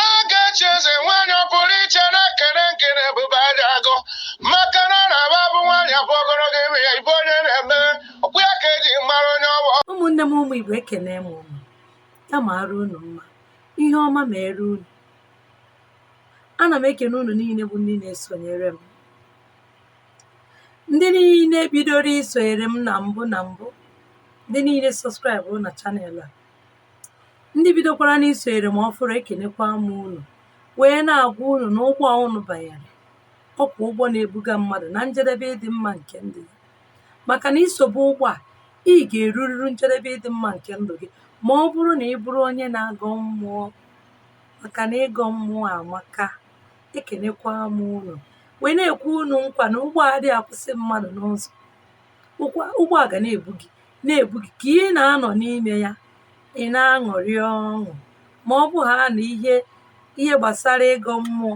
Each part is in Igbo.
Ogechi eze nwaanyị ọ pụrụ iche na-ekene nke na ebube aja agụ maka na ọ na-aba bụ nwaanyị abụ ogologo ime ya ife onye na-eme ọ bụ ya ka eji mara onye ọ bụ ụmụnne m ụmụ igbo ekene m unu ya mara unu mma ihe ọma mere unu ana m ekene unu niile bụ ndị na-esonyere m ndị niile bidoro isonyere m na mbụ na mbụ ndị niile subscribe na channel a ndị bidokwara n'isonyere m ọfụrụ ekenekwa m unu wee na-agwa unu na ụgbọ a unu banyere ọkwa ụgbọ na-ebuga mmadụ na njedebe ịdị mma nke ndụ ya maka na i sobe ụgbọ a ị ga-erururu njedebe ịdị mma nke ndụ gị ma ọ bụrụ na ị bụrụ onye na-agọ mmụọ maka na ịgọ mmụọ amaka ekenekwa m unu wee na-ekwe unu nkwa na ụgbọ a adịghị akwụsị mmadụ n'ụzọ ụgbọ a ga na-ebu gị na-ebu gị ka ị na-anọ n'ime ya ị na-aṅụrị ọṅụ ma ọ bụ ha na ihe gbasara ịgọ mmụọ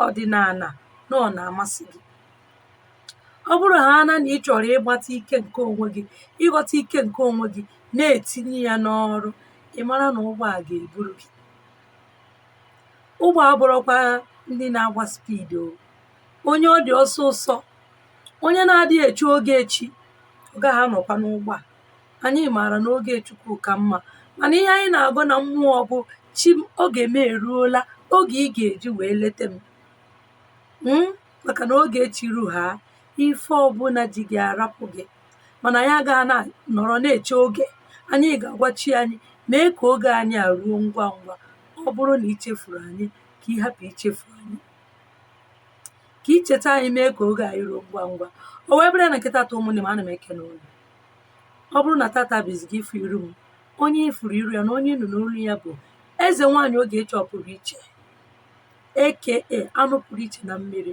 ọdịnala na ọ na-amasị gị ọ bụrụ ha na na ị chọrọ ịgbata ike nke onwe gị ịghọta ike nke onwe gị na-etinye ya n'ọrụ ị mara na ụgbọ a ga-eburu gị ụgbọ a abụrọkwa ndị na-agba speed o onye ọ dị ọsọ ọsọ onye na-adịghị eche oge chi ọ gaghị anọkwa n'ụgbọ a anyị maara na oge chukwu ka mma mana ihe anyị na-agọ na mmụọ bụ chi m oge m eruola oge ị ga-eji wee leta m Mm, maka na oge chi ru ha ife ọbụla ji gị arapụ gị mana anyị agaghị na nọrọ na-eche oge anyị ga-agwa chi anyị mee ka oge anyị a ruo ngwa ngwa ọ bụrụ na i chefuru anyị ka ị hapụ ichefu anyị ka i cheta anyị mee ka oge anyị ruo ngwa ngwa o wee bụrụ na nke tata ụmụnne m ana m ekene unu ọ bụrụ na tata bụ izizi gị ịfụ iru m onye ị fụrụ iru ya na onye nụ n'olu ya bụ eze nwaanyị Ogechi ọ pụrụ iche eke anụ pụrụ iche na mmiri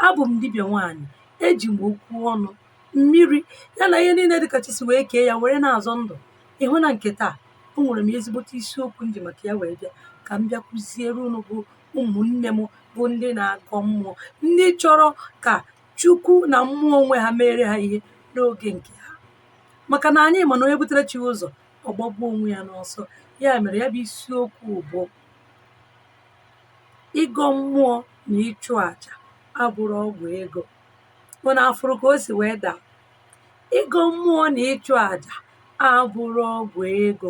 abụ m dibịa nwaanyị eji m okwu ọnụ mmiri ya na ihe niile dị ka chi si wee kee ya were na-azọ ndụ ị hụ na nke taa o nwere m ezigbote isiokwu m ji maka ya wee bịa ka m bịa kụziere unu bụ ụmụnne m bụ ndị na-agọ mmụọ ndị chọrọ ka chukwu na mmụọ onwe ha meere ha ihe n'oge nke ha maka na anyị ma na onye butere chi ụzọ ọ gbagbuo onwe ya n'ọsọ ya mere ya bụ isiokwu bụ ịgọ mmụọ na ịchụ àjà abụrọ ọgwụ ego unu afụrụ ka o si wee daa ịgọ mmụọ na ịchụ àjà abụrọ ọgwụ ego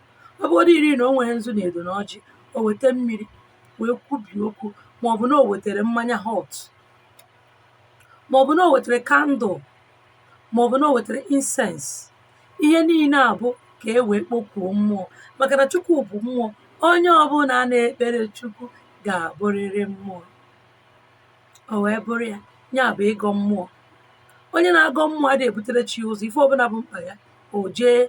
ọ bụgodị iri na o nwerọ nzu na edo na ọjị o weta mmiri wee kwubie okwu ma ọ bụ na o wetere mmanya hot ma ọ bụ na o wetere kandụl ma ọ bụ na o wetere insens ihe niile a bụ ka e wee kpokuo mmụọ maka na chukwu bụ mmụọ onye ọbụla na-ekpere chukwu ga-abụrịrị mmụọ o wee bụrụ ya ya bụ ịgọ mmụọ onye na-agọ mmụọ adịghị ebutere chi ụzọ ife ọbụla bụ mkpa ya o jee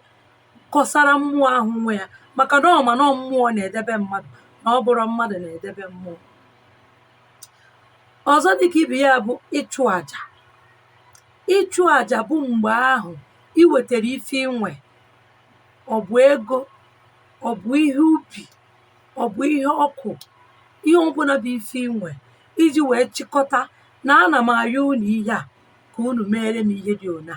kọsara mmụọ ahụ nwe ya maka na ọ ma na ọ mmụọ na-edebe mmadụ na ọ bụrọ mmadụ na-edebe mmụọ ọzọ dịka ibe ya bụ ịchụ aja ịchụ aja bụ mgbe ahụ ị wetara ife i nwe ọ bụ ego ọ bụ ihe ubi ọ bụ ihe ọkụ ihe ọbụla bụ ife i nwe i ji wee chịkọta na ana m ayọ unu ihe a ka unu meere m ihe dị ụna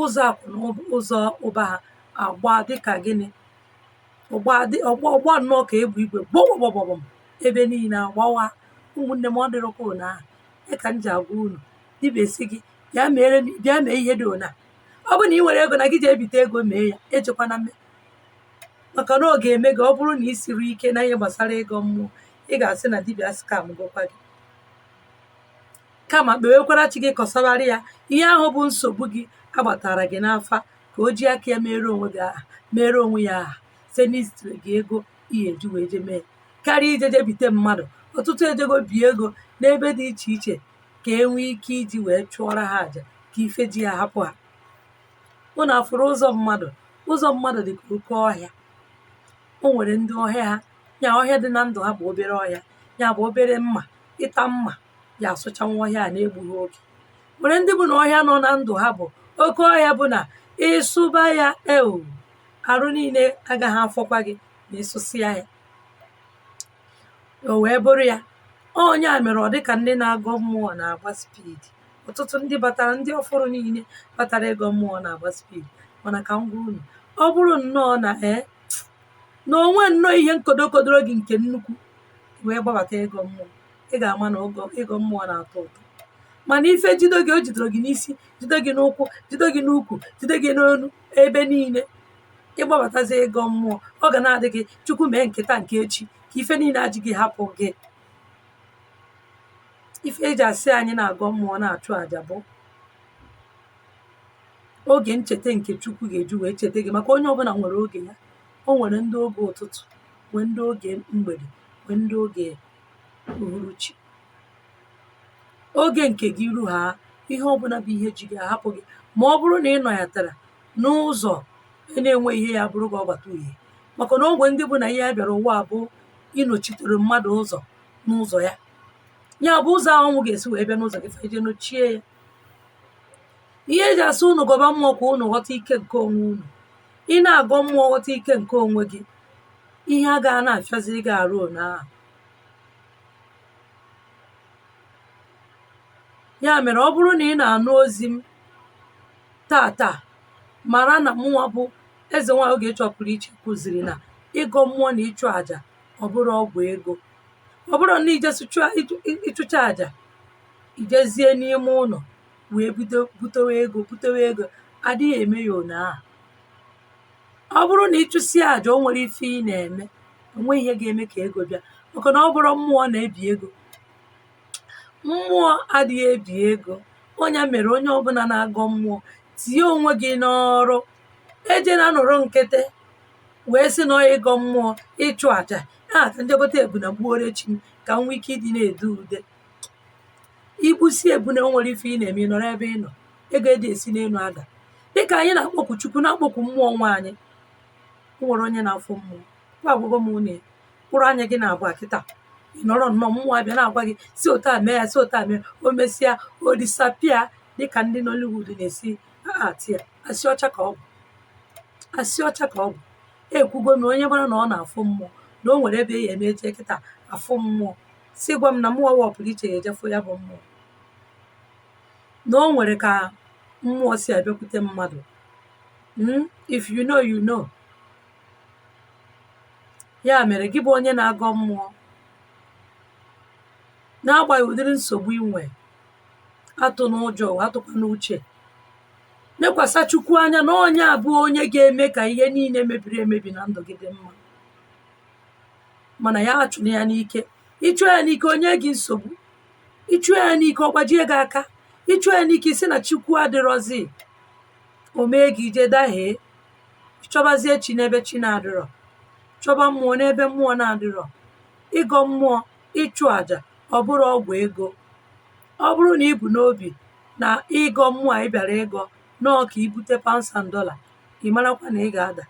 ụzọ akụ na ụb- ụzọ ụba ha agba dịka gịnị ọgba dị- ọgba ọgba nnọọ ka egbe igwe gbọgbọgbọgbọm ebe niile agbawa ụmụnne m ọ dịrọkwa ụna ahụ ya ka m ji agwa unu dibịa sị gị bịa meere m- bịa mee ihe dị ụna ọ bụrụ na ị nwerọ ego na gị ji ebite ego mee ya ejekwana mme maka na ọ ga-eme gị ọ bụrụ na ị sirọ ike na ihe gbasara ịgọ mmụọ ị ga-asị na dibịa skamgokwa gị kama kpewekwara chi gị kọsabara ya ihe ahụ bụ nsogbu gị a gbatara gị n'afa ka o ji aka ya mere onwe gị aha mere onwe ya aha site n'izitire gị ego ihe eji wee je mee karịa ije je bite mmadụ ọtụtụ ejego bie ego n'ebe dị iche iche ka e nwee ike iji wee chụọrọ ha àjà ka ife ji ha hapụ ha unu afụrọ ụzọ mmadụ ụzọ mmadụ dị ka oke ọhịa o nwere ndị ọhịa ha ya ọhịa dị na ndụ ha bụ obere ọhịa ya bụ obere mma ịta mma ya asụchanwu ọhịa a na-egbughị oge nwere ndị bụ na ọhịa nọ na ndụ ha bụ oke ọhịa bụ na ị sụba ya ewu arụ niile agaghị afọkwa gị ma ị sụsịa ya o wee bụrụ ya ọ nya mere ọ dị ka ndị na-agọ mmụọ na-agba spidi ọtụtụ ndị batara ndị ọfụrụ niile batara ịgọ mmụọ na-agba spidi mana ka m gwa unu ọ bụrụ nnọọ na ee na o nwe nnọọ ihe nkodokodoro gị nke nnukwu wee gbabata ịgọ mmụọ ị ga-ama na ịgọ mmụọ na-atọ ụtọ mana ife jido gị o jidoro gị n'isi jido gị n'ụkwụ jido gị n'ukwu jido gị n'onu ebe niile ị gbabatazi ịgọ mmụọ ọ ga na-adị gị chukwu mee nke taa nke echi ka ife niile a ji gị hapụ gị ife eji asị anyị na-agọ mmụọ na-achụ àjà bụ oge ncheta nke chukwu ga-eji wee cheta gị maka onye ọbụla nwere oge ya o nwere ndị oge ụtụtụ nwee ndị oge mgbede nwee ndị oge uhuruchi oge nke gị ruo ha ihe ọbụna bụ ihe ji gị ahapụ gị ma ọ bụrụ na ị nọyatara n'ụzọ enweghị ihe ya bụrụ gị ọgbata uhie maka na o nwe ndị bụ na ihe ya bịara ụwa bụ ịnọchitere mmadụ ụzọ n'ụzọ ya ya bụ ụzọ ahụ ọṅụ ga-esi wee bịa n'ụzọ gị fa eje nochie ya ihe e ji asị unu gọba mmụọ ka unu ghọta ike nke onwe unu ị na-agọ mmụọ ghọta ike nke onwe gị ihe agaghị na-afịaziri gị arụ ọ ya ahụ ya mere ọ bụrụ na ị na-anụ ozi m tata mara na mụnwa bụ eze nwaanyị Ogechi Ọpụrụiche kụziri na ịgọ mmụọ na ịchụ àjà ọ bụrọ ọgwụ ego ọ bụrụ na i jee chụọ- ịchụ- ịchụcha àjà i jezie n'ime ụlọ wee bido butewe ego butewe ego adịghị eme ya ọ ya ahụ ọ bụrụ nà ịchụsịa àjà o nwerọ ife ị nà-ème è nweghị ihe ga-eme kà egȯ bịa màkà nà ọ bụrọ mmụọ nà-ebì egȯ mmụọ adịghị ebì egȯ ọ ya mèrè onye ọbụna na-agọ mmụọ tìye ònwe gị n'ọrụ ejena nọ̀rọ ǹkịtị wèe sị nà ọ yȧ ịgọ̇ mmụọ ịchụ̇ àjà ahà kà m jee gote èbùnè gbuore chì m kà m nwee ike ịdị na-èdu ude i gbusịa ebune o nwerọ ife ị na-eme ị nọrọ ebe ị nọ ego adịghị esi n'elu ada dịka anyị na-akpọku chukwu na-akpọku mmụọ nwe anyị o nwerọ onye na-afụ mmụọ kwa agwago m unu ya mkpụrụ anya gị naabọ kịta ị nọrọ nnọọ mmụọ abịa na-agwa gị si otu a mee ya si otu a mee o mesịa o disappear dịka ndị Nollywood na-esi act ya asị ọcha ka ọ bụ asị ọcha ka ọ bụ ekwugo m onye mara na ọ na-afụ mmụọ na o nwere ebe ya eme eje kịta afụ mmụọ si gwa m na mụnwa wụ ọpụrụiche ya-eje fụ ya bụ mmụọ. Na o nwere ka mmụọ si abịakwute mmadụ. Mm, if you know, you know. Ya mere gị bụ onye na-agọ mmụọ n'agbanyeghị ụdịrị nsogbu i nwee, atụna ụjọ, atụkwana uche. Lekwasa Chukwu anya na ọ ya bụ onye ga-eme ka ihe niile mebiri emebi na ndụ gị dị mma. mana ya achụla ya n'ike ị chụọ ya n'ike o nye gị nsogbu ị chụọ ya n'ike ọ gbajie gị aka ị chụọ ya n'ike ị sị na chukwu adịrọzi o mee gị i jee dahie chọbazie chi n'ebe chi na-adịrọ chọba mmụọ n'ebe mmụọ na-adịrọ ịgọ mmụọ ịchụ àjà ọ bụrọ ọgwụ ego ọ bụrụ na i bu n'obi na ịgọ mmụọ a ị bịara ịgọ na ọ ka i bute pounds and dollar ị marakwa na ị ga-ada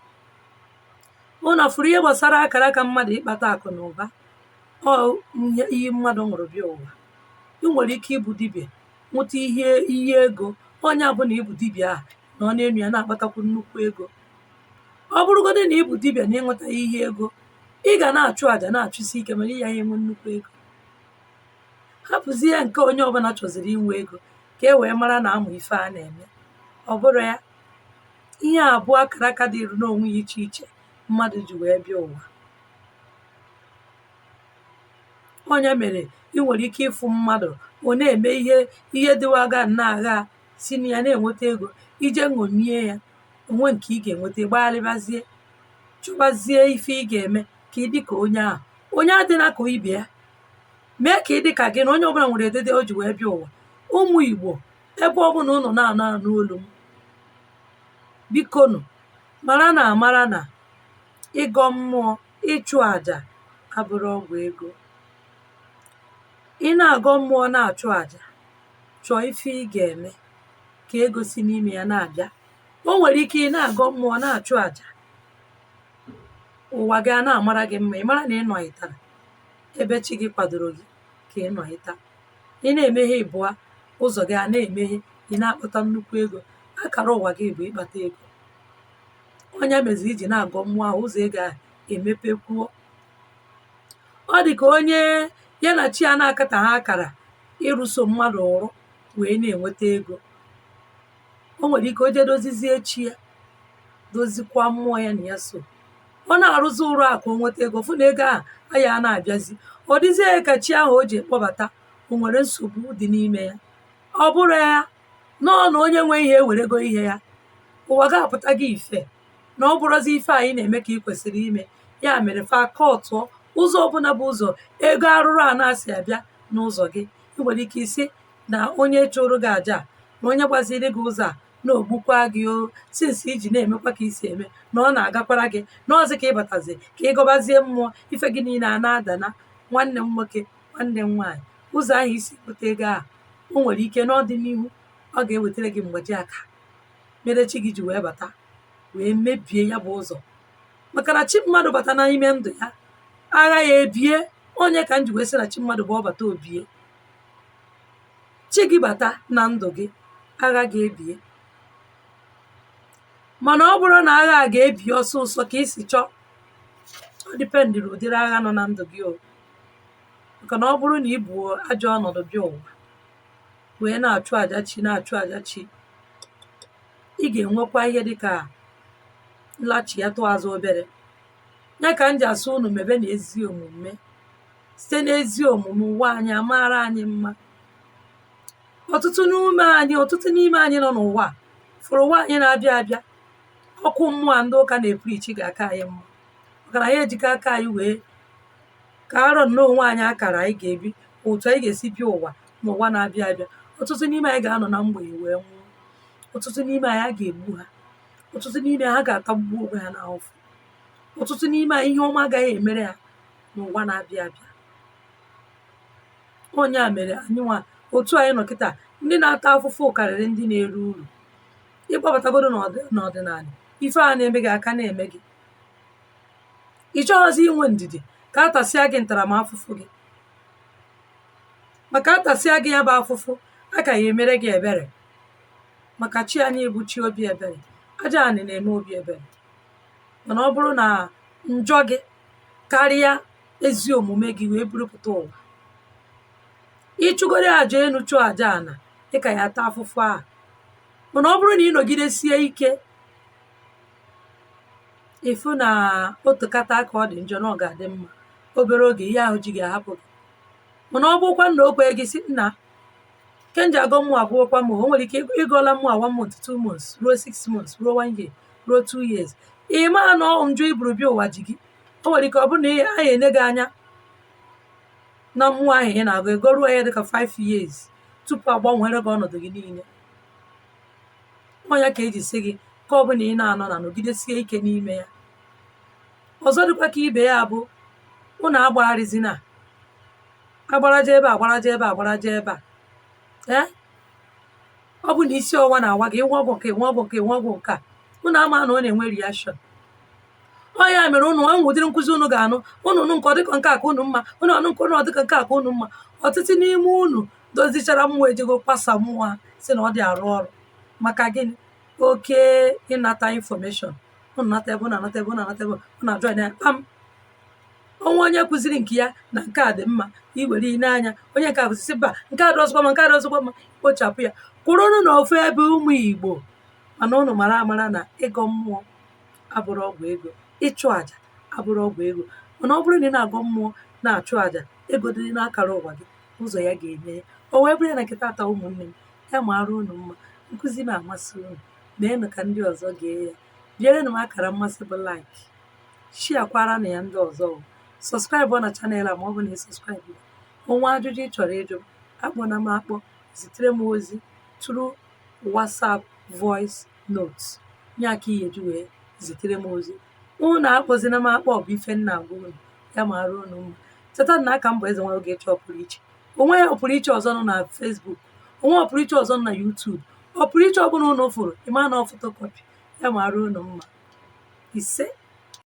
ụnụ fụrụ ihe gbasara akara aka mmadụ ịkpata akụ na ụba ọ iyi mmadụ ṅụrụ bịa ụwa ị nwere ike ịbụ dibịa ṅụta iyi ego ọ ya bụ na ị bụ dibịa ahụ nọ n'enu ya na-akpatakwu nnukwu ego ọ bụrụgodị na ị bụ dibịa na ị ṅụtaha iyi ego ị ga na-achụ àjà na-achụsi ike mana ị yaha enwe nnukwu ego hapụzie nke onye ọbụla chọziri inwe ego ka e wee mara na amụ ife a na-eme ọ bụrọ ya ihe à bụ akàrà akȧ dịrị n'ònwe ya ichè ichè mmadụ̀ jì wèe bịa ụ̀wà ọ ya mèrè i nwèrè ike ịfụ̇ mmadụ̀ ọ̀ na-ème ihe dịwaga na-àga si na ya na-ènwete egȯ i je ṅòmie ya ò nwe ǹkè ị gà-ènwete ị gbaalịbazie chọbazie ife ị gà-ème kà ị dịkà onye ahụ̀ onye adịna kà ibè ya mee kà ị dịkà gị nà onye ọbụlà nwèrè èdede o jì wèe bịa ụ̀wà ụmụ̀ ìgbò ebe ọ bụla ụnụ na-anọ anụ olu m bikonu mara na amara na ịgọ mmụọ ịchụ aja abụrọ ọgwụ ego ị na-agọ mmụọ na-achụ aja chọọ ife ị ga-eme ka ego si n'ime ya na-abịa o nwere ike ị na-agọ mmụọ na-achụ aja ụwa gị a na-amara gị mma ị mara na ị nọghịtara ebe chi gị kwadoro gị ka ị nọ ịta ị na-eme ihe ịbụa ụzọ gị a na-emeghe ị na-akpata nnukwu ego akara ụwa gị bụ ịkpata ego ọ ya mezi i ji na-agọ mmụọ ahụ ụzọ gị emepekwuo ọ dị ka onye ya na chi ya na-akataha akara ịrụso mmadụ ọrụ wee na-enweta ego o nwere ike o jee dozizie chi ya dozikwa mmụọ ya na ya so ọ na-arụzi ọrụ a ka o nweta ego ọ fụ na ego ahụ ayaha na-abịazi ọ dịzie ya ka chi ahụ o ji kpọbata o nwere nsogbu dị n'ime ya ọ bụrọ ya nọọ na onye nwe ihe ewerego ihe ya ụwa gị apụta gị ife na ọ bụrọzi ife anyị na-eme ka ị kwesịrị ime ya mere fa akụtuo ụzọ ọbụla bụ ụzọ ego arụrụ ana si abịa n'ụzọ gị ị nwere ike ịsị na onye chụrụ gị aja a, na onye gbaziri gị ụzọ a na-egbukwa gị o since i ji na-emekwa ka i si eme na ọ na-agakwara gị na ọzi ka ị batazi ka ị gọbazie mmụọ ife gị niile a na-ada ana nwanne m nwoke nwanne m nwaanyị ụzọ ahụ i si wote ego ahụ o nwere ike n'ọdịnihu ọ ga-ewetara gị mgbaji aka mere chi gị ji wee bata wee mebie ya bụ ụzọ maka na chi mmadụ bata n'ime ndụ ya agha ya ebie ọ ya ka m ji wee sị na chi mmadụ bụ ọbata obie chi gị bata na ndụ gị agha ga-ebie mana ọ bụrụ na agha a ga-ebi ọsọ ọsọ ka i si chọọ ọ dependịrị ụdịrị agha nọ na ndụ gị o maka na ọ bụrụ na i bu ajọ ọnọdụ bịa ụwa wee na-achụ aja chi na-achụ aja chi ị ga-enwekwa ihe dịka nlachi ya tụọ azụ obere ya ka m ji asị unu mebe na ezi omume site n'ezi omume ụwa anyị amaara anyị mma ọtụtụ n'ime anyị ọtụtụ n'ime anyị nọ n'ụwa a, fụrụ ụwa anyị na-abịa abịa ọkụ mmụọ a ndị ụka na-eprichi ga-aka anyị mma maka na anyị ejigo aka anyị wee kaara nnọọ onwe anyị akara anyị ga-ebi otu anyị ga-esi bịa ụwa n'ụwa na-abịa abịa ọtụtụ n'ime anyị ga-anọ na mgbei wee nwụọ ọtụtụ n'ime anyị a ga-egbu ha ọtụtụ n'ime ha ga-atagbu onwe ha n'afụfụ ọtụtụ n'ime anyị ihe ọma agaghị emere ha n'ụwa na-abịa abịa ọ ya mere anyịnwa otu anyị nọ kịta ndị na-ata afụfụ karịrị ndị na-eri uru ị gbabatagodu n'ọdị- n'ọdịnala ife a na-eme gị aka na-eme gị ị chọghọzi inwe ndidi ka a tasịa gị ntaramafụfụ gị maka a tasịa gị ya bụ afụfụ a ka ya emere gị ebere maka chi anyị bụ chi obi ebere aja anị na-eme obi ebere mana ọ bụrụ na njọ gị karịa ezi omume gị wee burupụta ụwa ị chụgodu aja enu chụọ aja ana ị ka ya ata afụfụ ahụ mana ọ bụrụ na ị nọgidesie ike ị fụ na o tekata aka ọ dị njọ na ọ ga-adị mma obere oge ihe ahụ ji gị ahapụ gị mana ọ bụkwa na o kwee gị sị nna ike m ji agọ mmụọ agwụkwa m o nwere ike ị gọọla mmụọ one month two months ruo six months ruo one year ruo two years ị ma na ọ njọ i buru bịa ụwa ji gị o nwere ike ọ bụrụ na a ya-ene gị anya na mmụọ ahụ ị na-agọ ị gọruo ya dịka 5 years tupu a gbanwere gị ọnọdụ gị niile ọ ya ka e ji sị gị nke ọ bụla ị na-anọ na nọgidesie ike n'ime ya ọzọ dịkwa ka ibe ya bụ unu agbagharịzina agbaraja ebe a agbaraja ebe a agbaraja ebe a ee ọ bụ na isi ọwa na-awa gị ịwa ọgwụ nke ịwa ọgwụ nke ịwa ọgwụ nke a unu ama na ọ na-enwe reaction ọ ya mere unu enwe ụdịrị nkụzi unu ga-anụ unu nụ nke ọ dịka nke aka unu mma unu anụ nke unu ọ dịka nke aka unu mma ọtụtụ n'ime unu dozichara mmụọ ejego kwasa mmụọ ha si na ọ dị arụ ọrụ maka gịnị oke ịnata infọmeshọn unu nata ebe unu anata ebe unu anata ebe unu ajụ anya kpam onwe onye kụziri nke ya na nke a dị mma i were ile anya onye nke a kụzisi mba nke a adịrọzikwa mma nke a adịrọzikwa mma kpochapụ ya kwụrụnụ na ofu ebe ụmụ igbo mana ụnụ mara amara na ịgọ mmụọ abụrọ ọgwụ ego ịchụ àjà abụrọ ọgwụ ego mana ọ bụrụ na ị na-agọ mmụọ na-achụ àjà ego dị n'akara ụwa gị ụzọ ya ga-emeghe o wee bụrụ ya na nke taata ụmụnne m ya mara unu mma nkụzi na-amasị unu meenụ ka ndị ọzọ gee ya bierenụ m akara mmasị bụ like sharekwaranụ ya ndị ọzọ subscribe na channel a ma ọ bụ na ị subscribe onwe ajụjụ ị chọrọ ịjụ akpọna m akpọ zitere m ozi through whatsapp voice note ya ka ị ya-eji wee zitere m ozi unu akpọzina m akpọ bụ ife m na-agwa unu ya mara unu mma cheta na a ka m bụ eze nwa ogechi ọpụrụ iche onwe ọpụrụ iche ọzọ nọ na Facebook onwe ọpụrụ iche ọzọ nọ na YouTube ọpụrụ iche ọbụla unu fụrụ ị ma na ọ photocopy ya mara unu mma ise